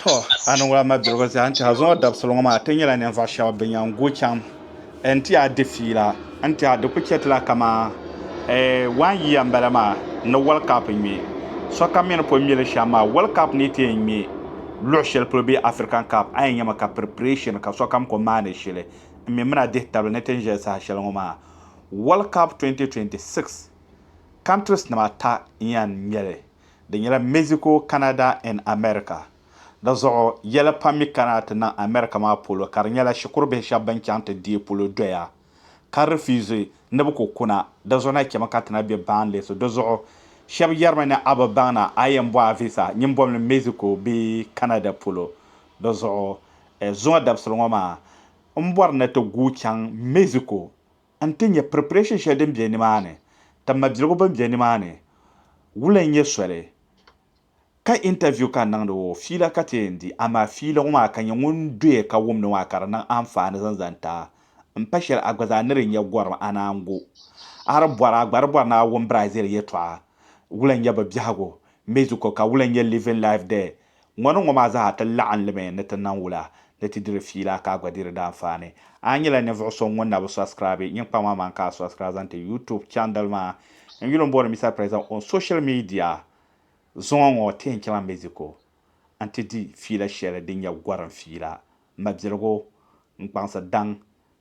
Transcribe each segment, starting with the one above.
Tɔ! A niŋ la ma dirigu zaa n-ti a zaŋ o dabisili ŋɔ maa ti nyɛla ninvuɣ shɛba bɛ nya n-gu chaŋ ɛɛ n-ti a di fiila n-ti a di ku chɛ ti la kaman ɛɛ waan yiya m-bala maa ni wɔlikapu ŋme. Sokam mi ni pun ŋme li shɛm maa, wɔlikapu ni ti yɛn ŋme luɣ shɛli polo bee Afirikan kapu, a yɛn nyami ka piripireeshin ka sokam ku maani shili n mi mini a dihi tabili ni ti ni ʒiya saha shɛli ŋɔ maa. Wɔlikapu 2026, kantrisnima ata n-yɛn ŋme li. Di nyɛla Mexico, Canada and America. Di zuɣu, yɛli pam mi kana ti niŋ America maa polo ka di nyɛla shikuru bihi shɛba bɛn chaŋ ti deei polo doya ka refuse ni bɛ ku kuna. Di zuɣu na chɛmi ka ti na be baŋli so. Di zuɣu, shɛba yɛrimi ni a bi baŋ na a yɛn bɔhi a visa nyimbɔbili Mexico bee Canada polo. Di zuɣu, zuŋɔ dabisili ŋɔ maa, m bɔri ni ti guui chaŋ Mexico. N ti nya preparation shɛli din be nimaani, ka mabiligu bɛn be nimaani wula n-nyɛ soli ka interview ka n niŋdi ŋɔ fiila ka ti yɛn di, amaa fiila ŋɔ maa ka nya ŋun doya ka wumdi ŋɔ maa ka di niŋ anfaani zaŋ zaŋ ti a. M pa shɛli a gba zaa ni di nya gɔrim a naan gu. A di bɔri a gba di bɔri ni a wum Brazil yɛtɔɣa wula n-nyɛ bɛ biɛhigu, Mexico ka wula n-nyɛ living life there, Ŋɔni ŋɔ maa zaa ti laɣim limi ni ti niŋ wula ni ti diri fiila ka a gba di di daanfaani. A yi nyɛla ninvuɣ so ŋun na bi sɔbsikiraabi nyin kpaŋ maa maa n-ka a sɔbsikira zaŋ ti YouTube chandal maa n yuli m-booni Mister President on Social Media zuŋɔ ŋɔ ti yɛn chaŋla Mexico n-ti di fiila shɛli din nyɛ gɔrim fiila, mabiligu, n-kpaŋsi daŋ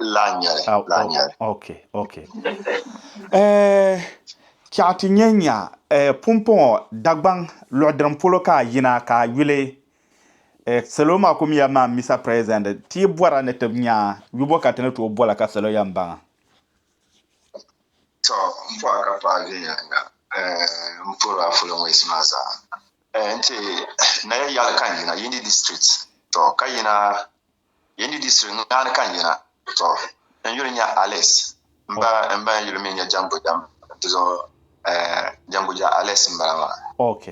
Laa nyɛli, Ah, laa oh, nyɛli. okay, okay. Eh, chaɣ ti nya nya eh, pumpɔŋɔ Dagbaŋ luɣidiriŋ polo ka a yina ka a yuli eh, salo maa kum ya maa Mister President, ti yi bɔra ni ti nya yubo ka ti ni tooi bɔla ka salo yan baŋa. Tɔ, m pɔha ka paɣa viɛnyɛliŋga eh, m puri a fulɔŋwɛsi maa zaa. Eh, nti na ya yaɣili ka n yina Yindi District, tɔ, ka yina Yi ni di suhu naani ka n yina, tɔ, n yuli nya Alex. M ba n ba yuli mi nya Jangoja nti zuɣu, eh, Jangoja Alex m-bala maa. Ok.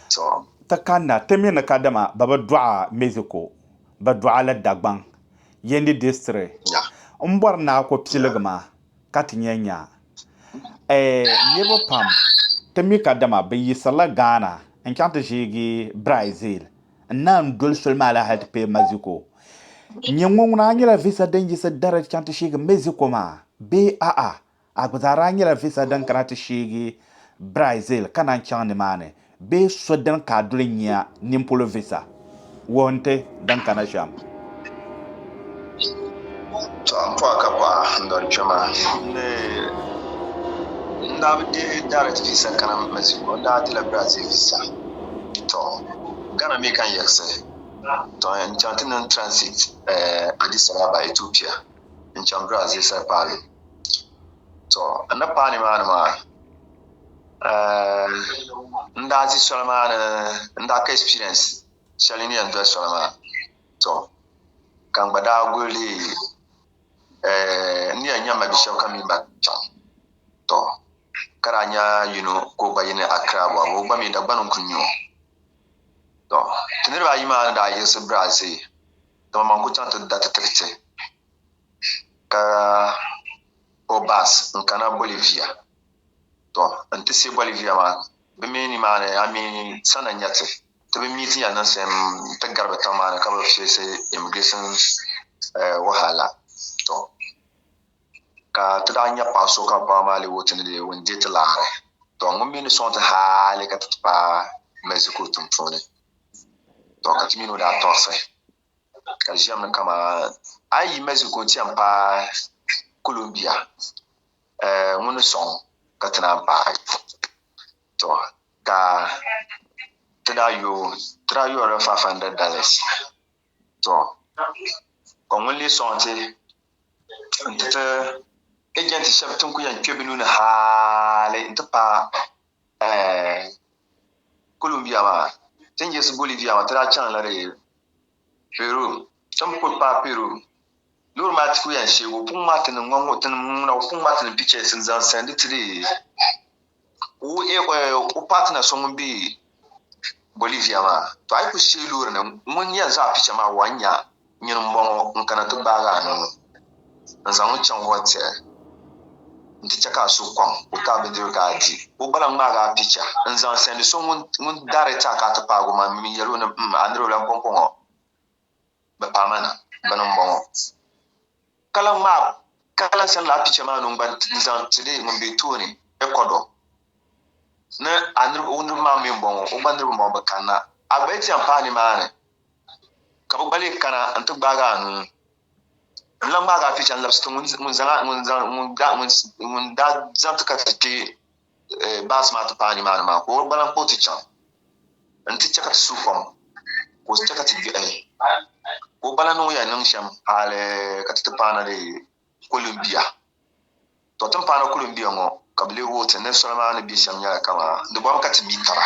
Tɔ. Ti kanna ti mi ni kadama ba bi dɔɣa Mexico, ba dɔɣa la Dagbaŋ, Yendi District. Nya. M bɔri ni a ku piligi ma ka ti nya nya. Eh, niriba pam ti mi kadama bɛ yiɣisirila Ghana n-chaŋ ti ʒeegi Brazil. N naai n doli soli maa la hal ti kpee Mexico. N ni ŋɔ ŋuna a nyɛla visa din yiɣisi direct chaŋ ti sheegi Mexico maa bee a'a? A gba zaa daa nyɛla visa din kana ti sheegi Brazil ka naan chaŋ nimaani bee so dini ka a doli n-nyɛ a nimpolo visa wuhi n ti din kana shɛm? Tɔ! M pɔɣi ka pɔɣa n-doli kpɛma ni n daa bi deei direct visa kana Mexico n daa dila Brazil visa tɔ Ghana mi ka n yiɣisi tɔ n chaŋ ti niŋ transit Addis Ababa Ethiopia n chaŋ Brazil Saopalo tɔ n ni paai ni maa ni maa n daa ʒi soli maa ni n daa ka experience shɛli din yɛn doli soli maa. To, ka n gba daa guli leei n ni yɛn nya ma bi shɛb ka mini ba chaŋ. To, ka daa nya yino ka o gba yi ni Accra bɔbu, o gba mi Dagbani n-kul nya o. To, ti niriba ayi maa ni daa yiɣisi Brazil, dama man kul chaŋ ti da ti tiri ti, ka o bus n-kana Bolivia. To, n-ti si Bolivia maa, bɛ mi nimaani a mi sana nya ti. Ti bi mi ti ya niŋsim ti gari bi tiŋ maa ni ka bi feesi immigration wahala. Tɔ! Ka ti daa nya paɣ so ka baŋ maa leeg o ti ni leeg o n-deei ti laɣiri. Tɔ! Ŋun mi ni sɔŋ ti hali ka ti ti paai Mexico tiŋ puuni. Tɔ! Ka ti min o daa tɔrisi ka di ʒiɛm ni kaman a yi yi Mexico n-ti yɛn paai Colombia. Ŋun ni sɔŋ ka ti naan paai tɔ ka ti daa yo o, ti daa yɔri li five hundred dollars. Tɔ ka ŋun lee sɔŋ ti nti ti agent shɛba ti n-kuli yɛn kpe bɛ nuu ni haali nti paai Columbia maa, ti ni yiɣisi Bolivia maa ti daa chaŋ la di Peru, Tim kuli paai Peru loori maa ti ku yɛn sheegi o pun ŋmahi ti ni ŋɔ ti ni ŋuna o pun ŋmahi ti ni pictures n zaŋ send ti di o partner so ŋun be Bolivia maa to a yi ku sheei loori ni ŋun yɛn zaŋ a picture maa wuhi a n nya nyin m bɔŋɔ n kana ti gbaagi a nuu. N zaŋ n chaŋ o tiɣi n ti chɛ ka a suhu kɔŋ o ka a bi diri ka a di o gba lahi ŋmaagi a picha n-zaŋ sɛndi so ŋun daariti a ka a ti paag o maŋmi yɛl o ni, M, a niriba lan kɔŋko ŋɔ bɛ paai ma na, bɛni m-bɔŋɔ. Ka lan ŋmaai ka lan sɛndi lala picha maa ni n gba n-zaŋ ti di ŋun be tooni, Ɛkɔdɔ ni. A niriba, o niriba maa mi m-bɔŋɔ, o gba niriba m-bɔŋɔ, bɛ kanna. A gba yi ti yɛn paai nimaani. Ka bɛ gba lee kana nti gbaag a nuu. N lan ŋmaag a picha n-labisi ti ŋun daa zaŋ ti ka ti kpe baasi maa ti paai nimaani maa, ka o gba lan kpa o ti chaŋ nti chɛ ka ti suhu fom, ka o chɛ ka ti gbɛhi, ka o gba lan niŋ o yɛn niŋ shɛm hal ka ti ti paana dee. Kulimbia. Tɔ timpaana kulimbia ŋɔ ka bɛ leegi o ti ni soli maa ni be shɛm nyɛla kaman di bɔbu ka ti mi taba.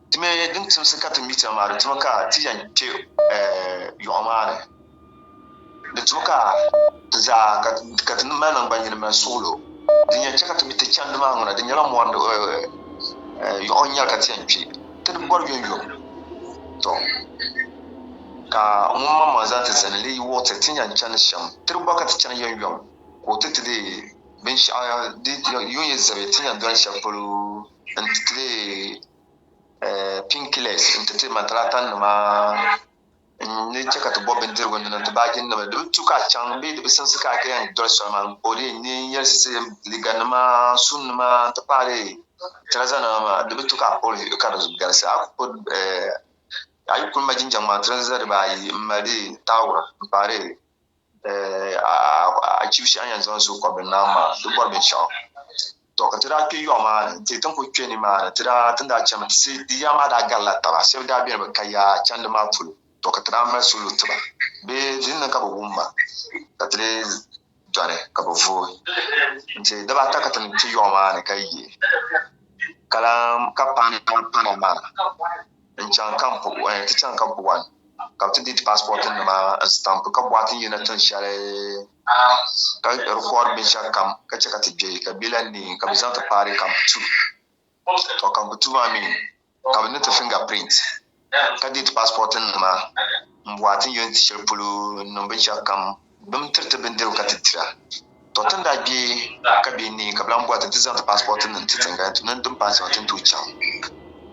Ti mi din timsi ka ti mi taba maa di tumi ka ti yɛn kpe yɔɣu maa ni. Di tumi ka ti zaa ka ti mali naŋgbannyini mali suɣilo. Din yɛn chɛ ka ti mi ti chandi maa ŋuna, di nyɛla mɔri yɔɣu n-nyɛ li ka ti yɛn kpe ti ni bɔri yomyom. Tɔ! Ka ŋunmaŋmaŋ zaa ti zani leei wuɣi ti, ti nya n-chani shɛm. Tiri gba ka ti chani yomyom, ka o ti ti leei binshɛɣu di yo yi zabi ti nya doli shɛb polo n-ti ti leei painkillers n-ti ti mantalaatanima n-ni chɛ ka ti bɔbi bindirigu n-niŋ ti baajinima. Di bi tu ka a chaŋ bee di bi simsi ka a ti yɛn doli soli maa ka o leei ni n yɛlisi liiganima, suunima n-ti pahi leei tirazanima maa, di bi tu ka a kpuɣi vihigu ka di galisi. A ku ku a yi kul ma jinjɛŋ maa tirinza dibaa ayi m-mali di taawura m-paai di a chibi shɛhi a ni yɛn zaŋ zooi kɔbiri naam maa di bɔri binshɛɣu. Tɔ ka ti daa kpe yɔɣu maa ni n-ti ti ni kul kpe nimaani ti daa ti ni daa chani mi ti sia di yaa maa daa garila taba shɛba daa beni bi ka yaa chandi maa polo tɔ ka ti daa mali salo ti ba bee di ni niŋ ka bi wum ma ka ti lee dɔri ka bɛ vooi nti daba ata ka ti niŋ ti yɔɣu maa ni ka yi ka lan ka paana paana maa n-chaŋ ka ti chaŋ ka buɣa ka bɛ ti deei ti paasipɔɔtinima n-sitampi ka bɔhi ti ni yina tin shɛli ka rikɔɔdi binshɛɣukam ka chɛ ka ti kpe ka bɛ lan neei ka bɛ zaŋ ti paari kampu tuu tɔ kampu tuu maa mi ka bɛ ni ti finger print ka date passport nima n bɔhi ti ni yɛn ti shɛli polo n niŋ binshɛɣu kam bim tiriti bindirigu ka ti dira tɔ ti ni daa kpe ka bɛ ni ka bɛ lan bɔhi ti ti zaŋ ti passport nim ti tiŋ ka ti niŋ din paasi maa ti ni tooi chaŋ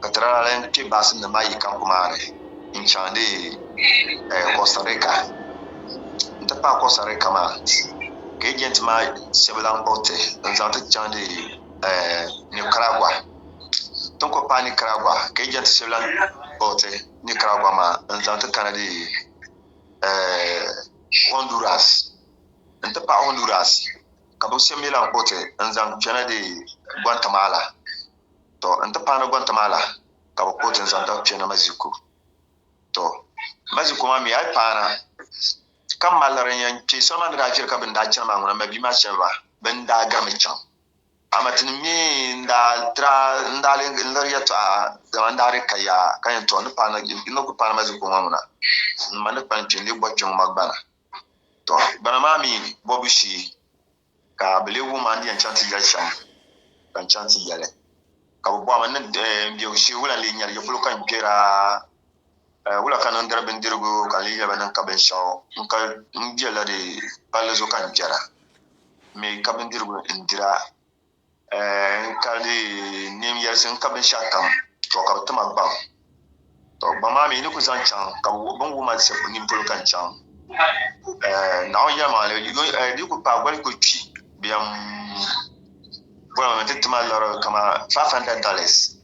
ka ti daa lan kpe baasi nim maa yi camp maa ni n chaŋ dee Costa Rica n ti pahi Costa Rica maa ka agent maa shɛba lan kpuɣi ti n zaŋ ti chaŋ dee Nicaragua. tinkɔb paai Nicaragua ka yi jɛnti shɛbi lan kpuɣiti Nicaragua maa n-zaŋ ti kana di Honduras n-ti pahi Honduras ka bɛ shɛbi mi lan kpuɣiti n-zaŋ kpɛna di Guantamala tɔ n-ti pahi ni Guantamala ka bɛ kpuɣiti n-zaŋ ti kpɛna Mɛziku tɔ Mɛziku maa mi a yi paana ka maliri n-yɛn kpe soli maa ni daa viɛli ka bɛ ni daa chani maa ŋuna mabia maa shɛba bɛ ni daa garimi chaŋ Amatini mi n-daa tra n-daa lee n-liri yɛtɔɣa, dama n-daa di ka yaa ka yɛn tɔɣi ni paana jilli n-ni kul paani ma zi kuɣima ŋuna ni ma ni kpani kpe n-lee bɔh kpiɔŋ ma gbana. Tɔ! Gbana maa mi bɔbu shee ka bɛ lee wum ma n-di yɛn chaŋ ti yɛli shɛm ka n chaŋ ti yɛli, ka bɛ bɔhim ma ni n-biɛgu shee wula n-lee nyɛli, ya polo ka n kpɛra? Wula ka niŋ diri bindirigu ka n lee yɛli ba niŋ ka binshɛɣu n-ka n be la di palli zuɣu ka n kpɛra? M mi ka bindirigu n-dir a, n ka lee neem yɛlisi n-ka binshɛɣukam, tɔ ka bɛ ti ma gbaŋ. Tɔ gbaŋ maa mi yi ni kul zaŋ chaŋ ka bɛ wuhi bɛ ni wuhi ma shɛb nini polo ka n chaŋ. Naawuni yɛlim a, di yi kul paai goli kul kpi bɛ yɛn boli ma ni n ti ti ma lari kaman five hundred dollars.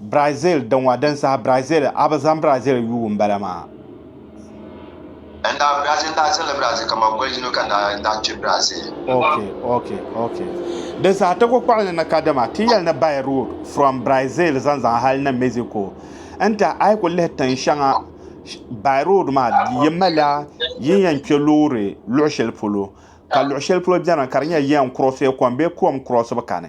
Brazil dinwa din saha Brazil a bi zaŋ Brazil yuui n bala maa. N daa Brazil n daa zilli Brazil ka ma boli yino ka n daa n daa kpi Brazil. Ok ok ok din saha ti ku kpaɣili ni ka dama ti yɛli ni by road from Brazil zaŋ zaŋ hali ni Mexico n tahi a yi ku lihi tin shɛŋa by road maa yi malila yin yɛn kpɛ loori luɣi shɛli polo ka luɣi shɛli polo bɛni ka di nyɛ yɛn cross kom bee kom cross bi kani.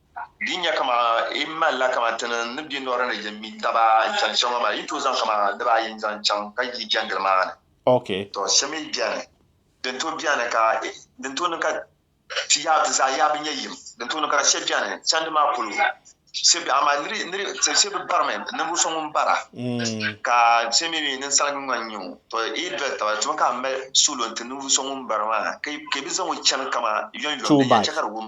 Di nya kaman yi malila kaman ti ni ni bɛ lɔra ni yɛn mi taba n-chani shɛm ŋɔ maa, yi tooi zaŋ kaman niriba ayi n-zaŋ chaŋ ka yi jɛndili maa ni. Tɔ! Shɛm mi beni, din tooi beni ka, din tooi niŋ ka ti yaa, ti zaa yaa bi nya yim, din tooi niŋ ka shɛb beni chandi maa polo, shɛb be, amaa niri, niri, shɛb bi barimi, ninvuɣ so ŋun bara, ka ti mi mi ninsalingi ŋɔ n-nyɛ o. Tɔ! Yi doli taba, ti mi ka a mali suɣulo n-ti ninvuɣ so ŋun bara maa, ka yi bi zaŋ o chani kaman yɔnyɔm, din yɛn chɛ ka di wum.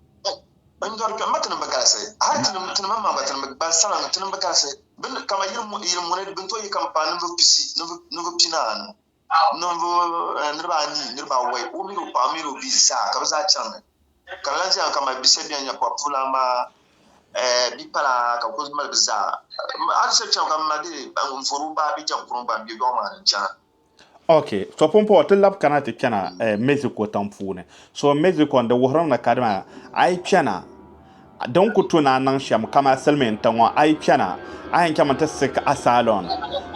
N dɔri kpɛm ma tinim bi galisi, hal tinim tinim n maŋ gba tinim bi gbalsamaŋ tinim bi galisi bi ni kama yili muni bin tooi yi ka n paai ninvuɣ pisi ninvuɣ pinaanu ninvuɣ niriba anii niriba awɔi o mini o paɣa mini o bia zaa ka bi zaa chaŋ ni ka n lan ʒiya ka mali bise bɛn nyɛ pɔbpulan maa bipala ka bi kuli mali bi zaa hal shɛli chaŋ ka m ma deei n vɔri o baa bɛ jɛŋ kuruŋ gba m be lɔɣu maa ni n chana. Ok, to pumpɔŋɔ ti labi kana ti kpɛna eh, Mexico tiŋ puuni. So Mexico di wuhiri ni ka dama a yi kpɛna din ku tu ni a niŋ shɛm kama silimiin tiŋ ŋɔ a yi kpɛna a yɛn chɛmi ti seek asylum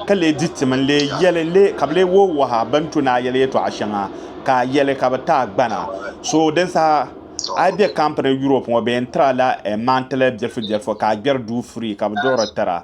ka lee di ti mini lee yɛli lee ka bi lee wo waha bini tu ni a yɛli yɛtɔɣa shɛŋa ka a yɛli ka bi ti a gbana. So din saha a yi be camp ni Europe ŋɔ bɛ yɛn tiri a la eh, maŋtili bilifu bilifu ka a gbɛri duu free ka bi duɣiri tiri a.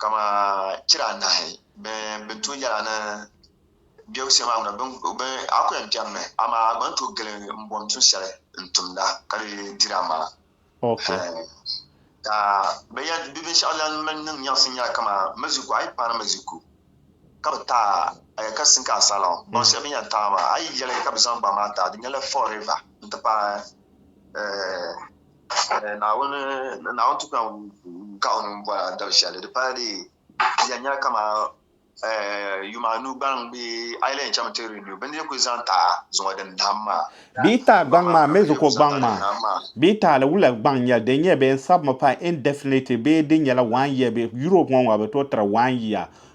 kama chira anahi bɛn bɛ tu yɛla ni bɛ wusiya maa ŋuna, bɛ a ku yɛn kpɛmmi, amaa a gba ni tooi gili m-bom tuun shɛli n-tumda ka di diri a maŋa. Hɛɛn, ka bɛ yɛn di binshɛɣu lan mali niŋ nyaɣisim nyɛla kaman maʒiku, a yi paani maʒiku ka bɛ taai a, a yɛli ka sinki a salɔŋ, bɔŋ shɛli bɛ ni yɛn taai maa, a yi yɛli ka bɛ zaŋ gbaŋ maa taai, di nyɛla Fall River n-ti paai ɛɛh. Naawuni tukpɛŋ ka o nuu bɔra dabi shɛli di pala dee di yɛn nyɛla kamani yuma anu gbaŋ bee a yi lahi yɛn chaŋmi ti renew bini din kuli zaŋ taai zuŋɔ din dahim maa. Bɛ yi taai gbaŋ maa mini zuko gbaŋ maa bɛ yi taali wula gbaŋ n-nyɛli din nyɛ bɛ yɛn sabimi pa indefinitely bee din nyɛla one year bɛ Europe ŋɔ ŋɔ ka bɛ tooi tiri one year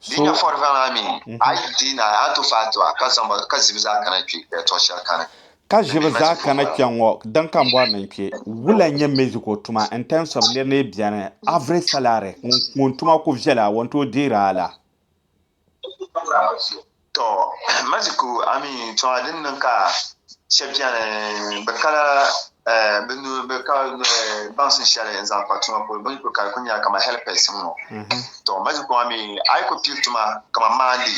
So ka ʒibi zaa kana kpɛ ŋɔ din ka n bɔri ni n kpɛ wula n nyɛ Mexico tuma in terms of nir ni bɛni average salary ŋun tuma ku viɛla o ni tooi deeri a la? Tɔ! Maziku a mi tɔŋa din niŋ ka shɛb beni bɛ ka la bɛ nuu bɛ ka baŋsim shɛli n-zaŋ kpa tuma polo, bɛ ni kuli ka di kuli nyɛla kaman helipɛs m-ŋɔ. Tɔ! Maziku a mi a yi kuli piri tuma kaman maandi,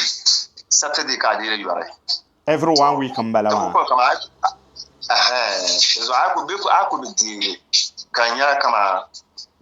Satide ka a deeri yɔri. Every one week m-bala maa. Di kuli kɔŋ kaman a yi kuli, ɛhɛn, dinzuɣu a yi kuli, bɛ kuli, a yi kuli bi deeri ka di nyɛla kaman.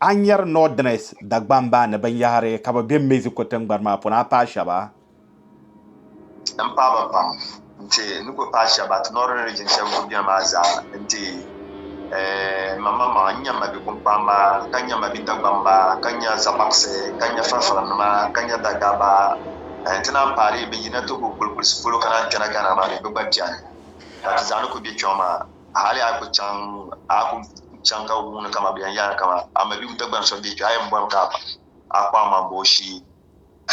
A ni nyari Northerners Dagbamba ni binyɛhiri ka bɛ be Mexico tiŋgbani maa puuni a paai shɛba? M paai ba pam nti ni kuli paai shɛba ti Northern Region shɛba kuli beni maa zaa nti eeh maŋmaŋmaŋ. N nya ma bipumpamba ka nya ma bidagbamba ka nya Zabaɣisi ka nya Farifirinima ka nya Dagaba nti naan paai di yi be yina ti kuli kulisi polo ka naan kpɛna Ghana maa mi bɛ gba beni ka ti zaa ni kuli be kpiɔŋ maa. hali a ku chaŋ ka wuuni ka ma bɛn yaai kaman a mabim Dagbaŋ so m-be kpe, a yɛn bɔrimi ka a kpaŋ ma m-ba o shee.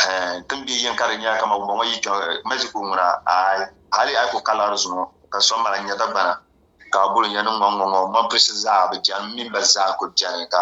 Hɛɛn! Tim biɛ yini ka di nyɛla kaman wumbɔŋɔ yi kpiɔŋ Mexico ŋuna? Aai! Hali a yi ku ka laɣiri zuŋɔ ka so mali nya Dagbana. Ka a guli n yɛn ni ŋɔŋɔŋɔ, mɔmpilisi zaa bi chani, m mini ba zaa n-kul beni ka